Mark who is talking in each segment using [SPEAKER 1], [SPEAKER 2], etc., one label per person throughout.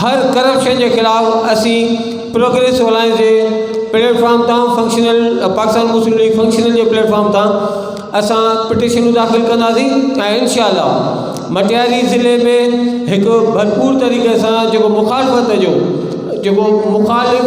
[SPEAKER 1] هر corruption جي خلاف اسين پروگريسو الائنس جي پليٽ فارم تان فنڪشنل پاڪستان مسلم ليگ فنڪشنل جي پليٽ فارم تان اسان پٽيشنون داخل ڪنداسين ۽ انشاء الله مٽياري ضلعي ۾ هڪ ڀرپور طريقي سان جيڪو مخالفت جو جيڪو مخالف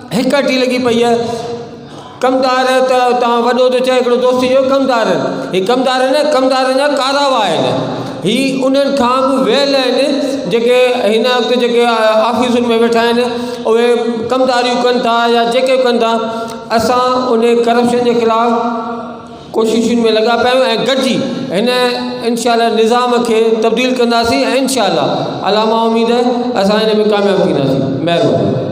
[SPEAKER 1] هڪ اٽي لڳي پئي آهي ڪمدار ته تان وڏو ٿو چئي هڪڙو دوست جو ڪمدار هي ڪمدار نه ڪمدار نه ڪارا واه آهن هي انهن کان به ويل آهن جيڪي هن وقت جيڪي آفيسن ۾ ويٺا آهن اهي ڪمداريون ڪن ٿا يا جيڪي ڪن ٿا اسان انهي ڪرپشن جي خلاف ڪوششن ۾ لڳا پيا آهيون ۽ گڏجي هن انشاء الله نظام کي تبديل ڪنداسين ۽ انشاء الله الله مان اميد اسان هن ۾ ڪامياب ٿينداسين مهرباني